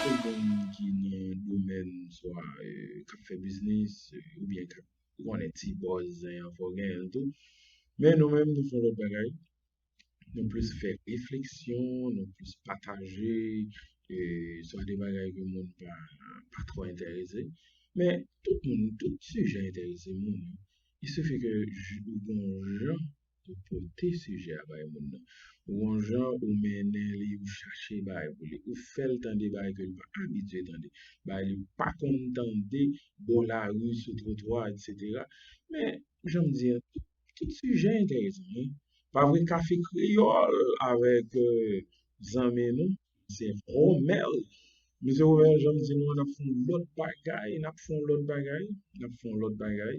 Tout moun ki nan domèn swa kap fè biznis oubyen kap konnen ti bòz zen an fò genyenl tou men nou menm nou fon lòt bagay. nou plis fè refleksyon, nou plis pataje, e sa de bagay ke moun pa tro enterese. Men, tout moun, tout sijè enterese moun. I se fè ke ou gen yon jan pou pote sijè a bay moun nan. Ou gen yon jan ou mennen li, ou chache bagay pou li. Ou fè l tande bagay ke li pa abitye tande. Bagay li pa konn tande, bò lari, sou twotwa, etc. Men, jan m di an, tout sijè entèresan wi. Pa vre kafe kreyòl avèk zanmi nou se Romel. Mesye Romel jan m di nou an n ap fè yon lòt bagay, n ap fè yon lòt bagay, n ap fè yon lòt bagay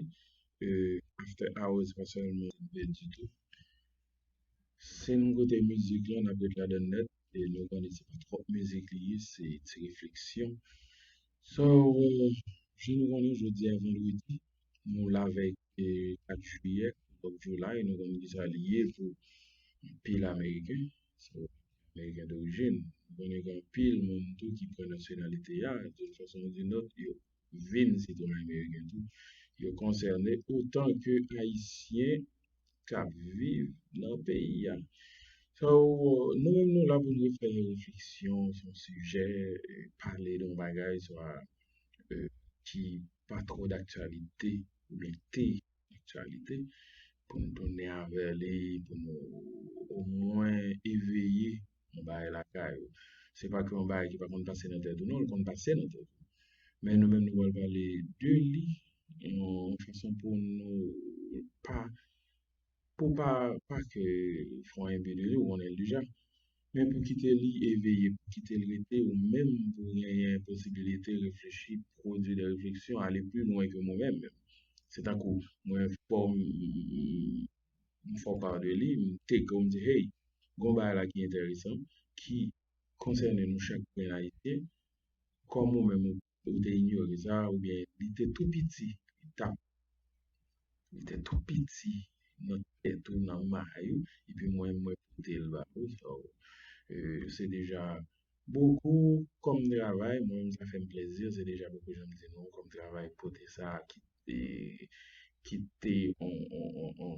after hours se pa sèlman ditou. Si n koute mizik lan n ap ret ladan l nèt. E lè w tande se pa twòp mizik li ye, se ti refleksyon. So, jan nou konnen jodi a vandredi, nou lavèy 4 jiyè, 4 of July, nou konnen kisa li ye pou anpil ameriken, so ameriken dorijin. Nou konnen gen anpil moun tou ki pran nasyonalite a, doun fason ou doun lòt yo. vin sitwayen meriken tou, yo konsène otan ke Ayisyen k ap viv nan peyi a. So, nou menm nou la pou nou fè yon refleksyon sou yon sijè, pale de yon bagay swa ki pa twò daktyalite oubyen te aktyalite pou nou tounen avè li pou nou omwen eveye yon bagay lakay ou. Se pa ke yon bagay ki pa konn pase nan tèt ou non, l konn pase nan tèt ou. Men nou menm nou pral pale de li yon fason pou nou pa pou pa pa ke fon enbi de li ou konnen l deja. Men pou kite li eveye, pou kite l rete, ou menm pou genyen posibilite reflechi, pwodui de refleksyon, ale pli lwen ke mwen menm. Se tankou, mwen fò m, m fò pa de li, m take ou m di hey, gon bagay la ki enteresan, ki konsène nou chak gren Ayisyen, kòm ou menm ou. Ou te inyore sa oubyen li te tou piti li tap li te tou piti nan tèt ou nan may ou epi mwen mwen pote l ba ou sa w se deja bokou kòm travay mwen menm sa fè m plezi se deja bokou jan m di nou kòm travay pote sa ki te ki te yon yon yon yon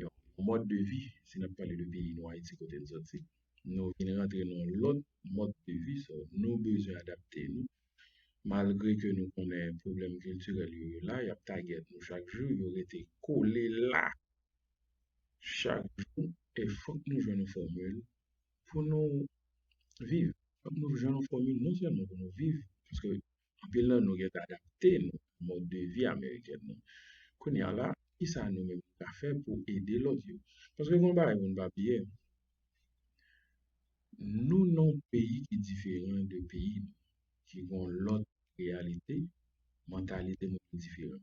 yon mòd de vi, si n ap pale de peyi nou Ayiti kote n sòti, nou vin rantre nan yon lòt mòd de vi, so nou bezwen adapte nou malgre ke nou konnen pwoblèm kiltirèl yo yo la, y ap tagèt nou chak jou, yo rete kole la chak jou e fòk nou jwenn yon fòmil pou nou viv, fòk nou jwenn yon fòmil non sèlman pou nou viv, paske Anpil nan nou gentan adapte nou a mòd de vi amerikèn nan. Kounye a la, kisa nou menm nou ka fè pou ede lòt yo? Paske gen yon bagay moun pa bliye, nou nan yon peyi ki diferan de peyi nou, ki gen yon lòt reyalite, mantalite nou ki diferan.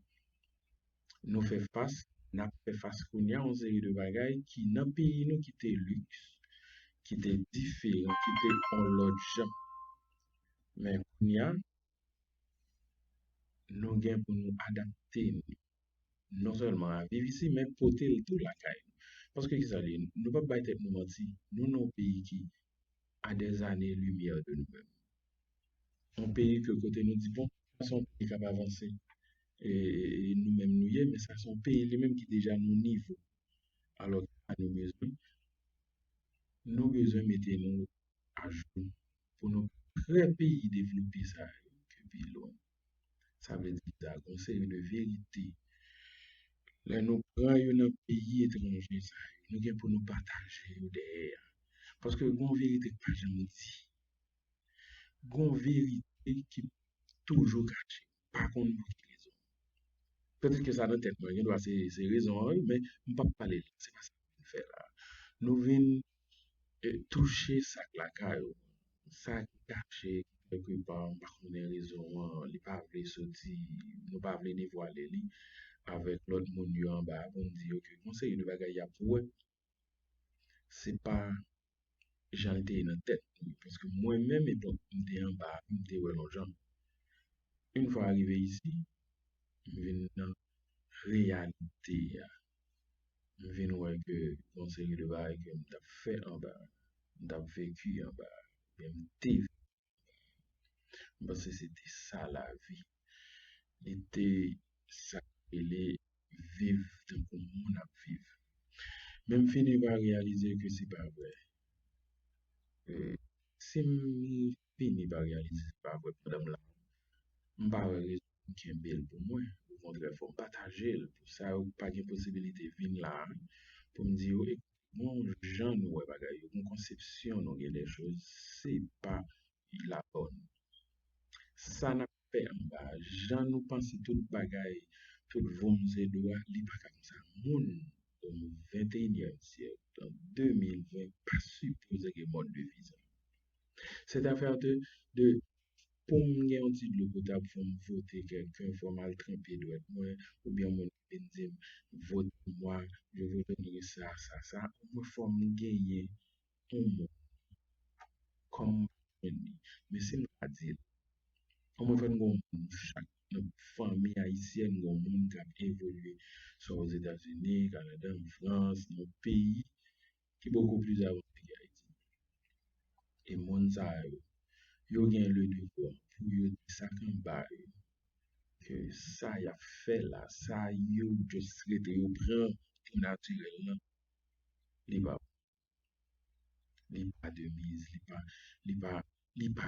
nou fè fas, n ap fè fas kounye a yon seri de bagay ki nan peyi nou ki te liks, ki te diferan, ki te yon lòt jan. Men kounye a, nou gen pou nou adapte nou non sèlman a viv isi men pote l tou lakay nou. Paske ki sa li ye? Nou pap bay tèt nou manti, nou nan yon peyi ki a dèzane limyè de nou menm. yon peyi ke kote nou di bon, sa se yon peyi k ap avanse, e nou menm nou ye, men sa se yon peyi li menm ki deja nan yon nivo. Alò ki sa nou bezwen? Nou bezwen mete nou ajou pou nou prè peyi devlope sa yo ki pi lwen. Sa vle di ki sa? Gon yon seri de verite lè nou pran yo nan peyi etranje sa yo, nou gen pou nou pataje yo dèyè a. Paske gon verite k pa janm di. Gon verite ki toujou kache, m pa konn pou ki rezon. Petèt ke sa nan tèt mwen, gen dwa se rezon an wi, men m pap pale de sa, se pa sa nou vin fè la. Nou vin touche sa k lakay ou, sa ki kache kèlke pa, m pa konnen rezon an, li pa vle soti, nou pa vle devwale li avèk lòt moun yo anba a pou n di yo ke gon seri de bagay y ap wè. se pa jan l te ye nan tèt mwen. Paske mwen menm epòk m te anba, m te wè l yon jan. Yon fwa rive isi, m vin nan reyalite a. M vin wè ke yon seri de bagay ke m t ap fè anba, m t ap veki anba, m te veki anba. M panse se te sa lavi. Li te sa k rele viv tankou moun ap viv. Men m fini pa reyalize ke se pa vre. Si m fini pa reyalize se pa vre pandan m la, m pa wè rezon pou m kenbe l pou mwen. Okontrè fò m pataje l pou sa yo ki pa gen posibilite vin la a, pou m di yo ekoute Bon jan nou wè bagay yo, bon konsepsyon nou gen dè choz se pa la bòn. Sa n ap fè anba a, jan nou panse tout bagay, tout voum se dlo a, li pa ka konsa. Moun o venteyinyèm syèk, an 2020, pa sipoze gen mòd de vi sa a. Sèt afè de pou m gen yon ti dlo potab fò m fwote kèlken, fò m al tranpe dwèt mwen oubyen moun vin dim vote pou mwa je vous donnerai sa sa sa omwen fòm genyen yon moun kòm mwen pa jwenn li men sim ta dil omwen fèm gen yon moun nou chak nan fanmi ayisyèn gen yon moun kap evolye swa ozetazini kanada anfrans nan yon peyi ki bokou plis avanse ke Ayiti. E moun sa yo, yo gen le devwa pou yo di sa k anba yo, ke sa y ap fè la, sa yo just rete yo pran pou natirèl lan, li pa bon. Li pa de miz, li pa, li pa, li pa.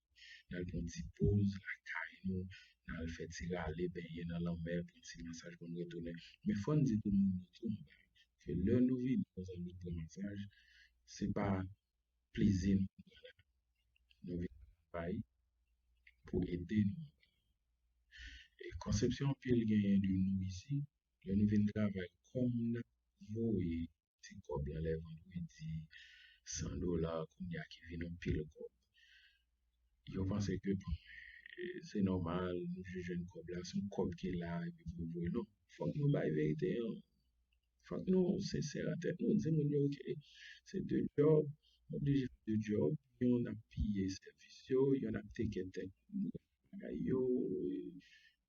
n al pran ti poz lakay nou, n al fè ti rale benyen nan lanmè, pran ti masaj pou n retounen. Men fò n di tou moun yo tou anba yo ke lè nou vini nan zòn nou pran masaj, se pa plezi nou vin pran la. Nou vin travay pou ede nou anba yo. E konsepsyon anpil genyen de nou isi, lè nou vin travay kòm n ap voye Ti kòb lan lè vandredi 100 dola kounye a ki vin anpil kòb. Yo panse ke bon se nòmal nou jis jwenn kòb la se yon kòb ki la epi pou yo voye non fòk nou bay verite an fòk nou sensè nan tèt nou di moun yo ke se de djòb nou oblije fè de djòb yon ap piye sèvis yo yon ap teke tèt moun bagay yo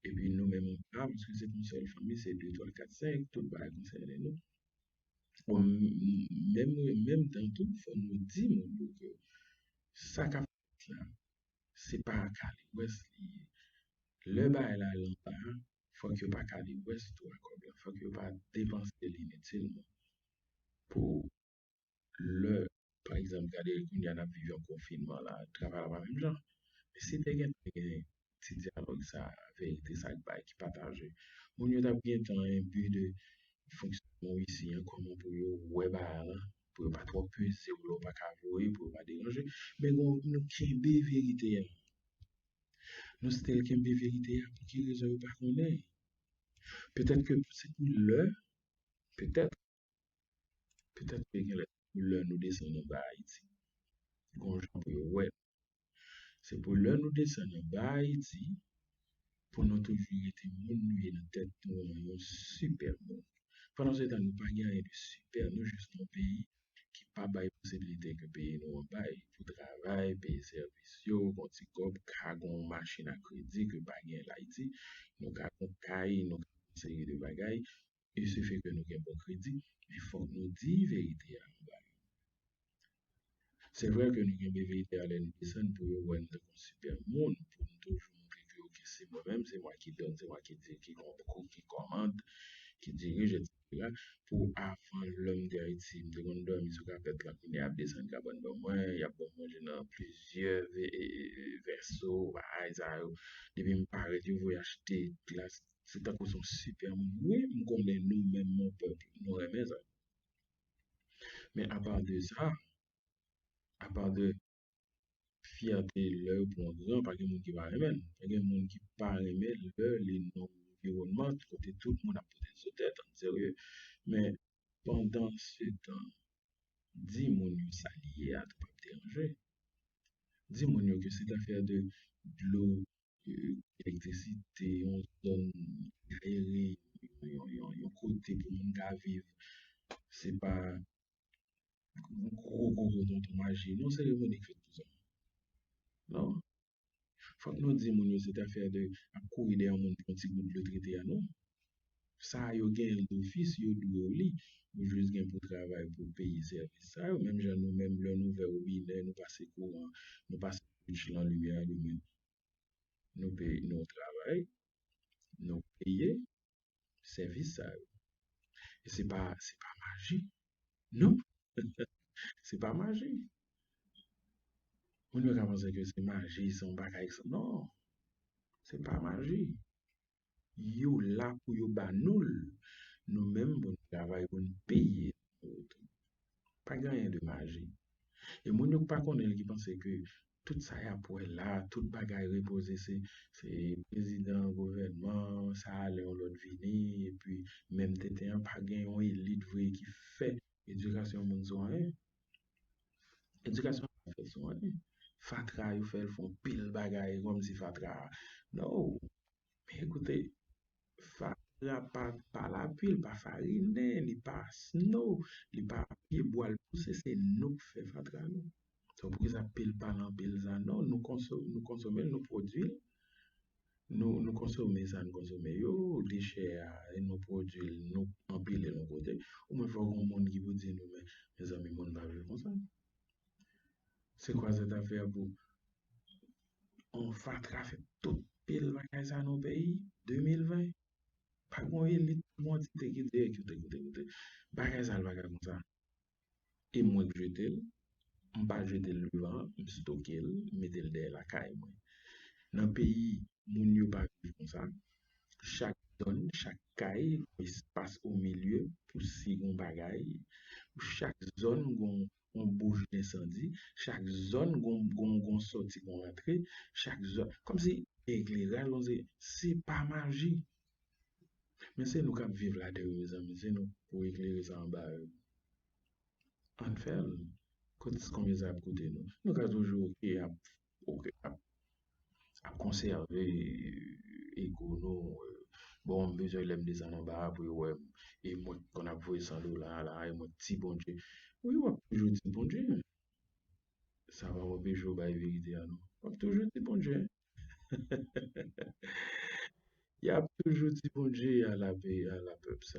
epi nou menm an pam se pou yon sèl fanmi se 2, 3, 4, 5 tout bagay konsène nou. Bon, menm mwen menm tan tou fò nou di moun yo ke sa kap fèt la se pa a kalewès li ye. Lè bagay la al anba a, fòk yo pa kalewès tou a kòb la, fòk yo pa depanse li inutilman pou lè pa egzanp gade kounya n ap viv yon konfinman la travay la pa menm jan men si te gen ti dyalòg sa verite sa k bay ki pataje moun yo t ap gen tan enbi de fonksyonman isi an kòman pou yo wè bagay lan pou yo pa twò peze w lè w pa ka voye pou yo pa deranje men gen moun nou kenbe verite a nou stil kenbe verite a pou ki rezon yo pa konnen petèt ke se pou lè petèt Petèt ke gen lè lè nou desann anba Ayiti, gon jan pou yo wè nou. Se pou lè nou desann anba Ayiti, pou nou toujou rete moun nou ye nan tèt nou an, yon sipè moun. Pandansetan nou pa gen anyen de sipè, nou jis yon peyi ki pa bay posibilite ke peyi nou an bay pou travay, peye sèvis yo, gon ti kòb, ka gon machin a kredi ke pa gen l Ayiti, nou ka gon kay, nou ka gon seri de bagay, e se fè ke nou gen bon kredi, men fòk nou di verite a anba yo. Se vre ke nou gen BVIP a lè nou desann pou yo wè nou tankou yon sipè moun, pou nou toujou montre ke ok se mwen menm, se mwen ki donn, se mwen ki di, ki konkou, ki kòmand, ki dirije etc. Pou avan lòm de Ayiti, m te konn dòmi sou kapèt lan, kounye a yap desann kabann ban mwen, yap ban m manje nan plizyè vèso, bagay sa yo. Depi m parèt yo voye achte glas Se tankou son super moun wi m konnen nou menm mon peuple nou renmen sa. Men apa de sa, apa de fyète lè yo pran gran pa gen moun ki pa renmen l, pa gen moun ki pa renmen lè li nan anviwònman kote tout moun ap pote sou tèt an serye. Men pandan se tan di moun yo sa li ye a tou pap deranje. Di moun yo ke se t afè de dlo Elektrisite, yon zòn ayere, yon kote pou moun ka viv, se pa yon gwo gwo gwo tonton maji, yon seremoni k fèt pou sa. Non. Fòk nou di moun yo se te afè de ap kouri dèyè yon moun pou yon ti gout dlo trete a non. Sa yo genyen l dofis, yo dwe w li. Ou jis gen pou travay pou w peye sèvis sa yo. Menm jan nou menm lè nou ouvè wobinè, nou pase kouran, nou pase switch lan, limyè alimen, nou peye, nou travay, nou peye sèvis sa yo. E se pa, se pa maji. Non! Se pa maji. Moun yo ka panse ke se maji, se yon bagay, non! Se pa maji. yo la pou yo ba nou l nou menm pou nou travay pou nou peye pa gen anyen de maji e moun yo ki pa konnen l ki panse ke tout sa y ap wè la tout bagay repoze se prezidan gouvènman sa ale yon lòt vini epi menm tenten an pa gen yon elit vre ki fè edikasyon moun sou anyen Edikasyon pa fè sou anyen. Fatra yo fè l fè yon pil bagay kòm si fatra a. Nou, men ekoute, fatra pa pa lapli, li pa farine, li pa snow, li pa pye bwa l pouse, se nou k fè fatra nou. Donk poukisa pil pa lan pil zan? Non, nou konsome l, nou pwodui l. nou konsome sa n konsome yo, li chè a, nou pwodui l, nou anpile l yon kote, omwen fò gen yon moun ki pou di nou men, mezanmi moun pa viv konsa. Se kwa zèt ap fè a pou yon fatra fè tout pil bagay sa nan peyi? 2020? Pa gen yon elit, pa gen yon antite ki di, ekouté, ekouté, ekouté, bagay sa pa ka konsa. e mwen k jete l, m pa jete l devan an, m stoke l, m mete l dèyè lakay mwen. Nan peyi, moun yo pa viv konsa. Chak zòn, chak kay gen espas omilye pou si gen yon bagay. Chak zòn gen yon bouch densandi. Chak zòn gen yon sòti, gen yon rantre. Chak zòn, kòmsi ekleraj lan se pa maji. Men se nou kap viv ladan yo mezanmi se nou pou eklere sa anba yo ann fèl kot konbyen sa ap koute nou nou ka toujou ok ap ap konsève ego nou bon m bezwen lèm desann anba a pou yo wèm e mwen ki konn ap voye 100 dola a la e mwen ki ti bondye wi wap toujou ti bondye sa pa anpeche w bay verite a non wap toujou ti bondye Yap toujou di bondye ala pe ala pep sa.